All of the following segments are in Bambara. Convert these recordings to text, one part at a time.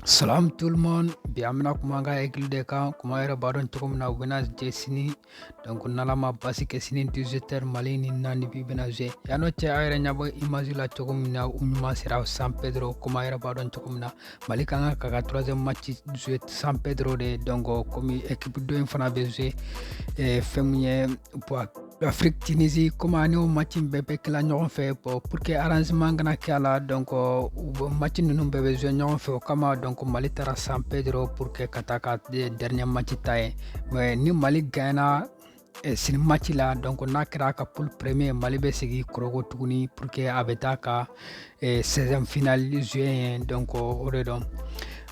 Salam tout le monde bi an bɛna kuma an ka Aigles de kan komi a yɛrɛ b'a dɔn cogo min na u bɛna jouer sini donc n'ala ma basi kɛ sini 18 heures mali ni namibie bɛna jouer ɲɔgɔn cɛ a yɛrɛ ɲɛ b'u image la cogo min na u ɲuman sera san pedro komi a yɛrɛ b'a dɔn cogo min na mali ka kan k'a ka troisième match jouer san pedro de donc komi équipe dɔ in fana bɛ jouer eh, fɛn min ye Afrique Tunisie comme ni o match in bɛɛ bɛ kɛ la ɲɔgɔn fɛ pour que arrangement kana kɛ a la donc u match ninnu bɛɛ bɛ jouer ɲɔgɔn fɛ o kama donc Mali taara San Pedro pour que ka taa ka dernier match tan yen mais ni Mali gagnera eh, sini match la donc n'a kɛra a ka poule premier Mali bɛ segin Korhogo tuguni pour que a bɛ taa ka seizième finale jouer donc o de don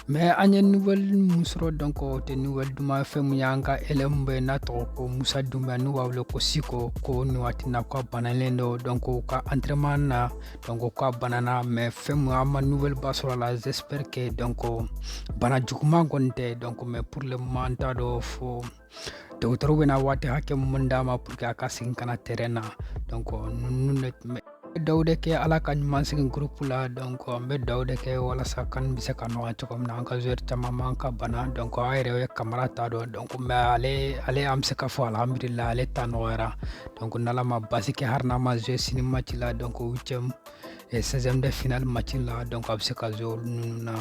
mais an ye nouvelle mun sɔrɔ donc o tɛ nouvelle duman fɛn mun y'an ka ailier mun bɛ n'a tɔgɔ ko musa dunbiya n'u b'a wele ko chico ko nin waati na ko a banalen don donc u ka entraînement na donc ko a banana mais fɛn mun an ma nouvelle ba sɔrɔ a la j'espère que donc bana juguman kɔni tɛ donc mais pour le moment n t'a dɔn fo dɔgɔtɔrɔw bɛna waati hakɛ mun d'a ma pour que a ka segin ka na terrain na donc ninnu de tun bɛ duwa de kɛ ala k'a ɲuman segin groupe la donc an bɛ duwa de kɛ walasa kan bɛ se ka nɔgɔya cogo min na an ka joueur caman man ka bana donc a yɛrɛ ye kamara ta dɔn donc mais ale ale an bɛ se ka fɔ alhamdulila ale ta nɔgɔyara donc n'ala ma basi kɛ hari n'a ma jouer sini match la donc huitième eh, seizième de finale match la donc a bɛ se ka jouer u ninnu na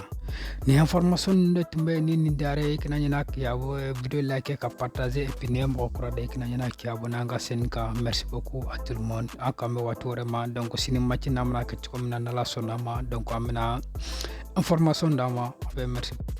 nin information ninnu de tun bɛ ni nin diyara i ye i kana ɲinɛ k'i abo eh, video like ka partager et puis n'i ye mɔgɔ kura de i kana ɲinɛ k'i abonné an ka chaîne kan merci beaucoup à tout le monde an kan bɛ waati wɛrɛ ma donc sini match n'a mana kɛ cogo min na n'ala sɔnn'a ma donc an bɛna information d'a ma a bɛ merci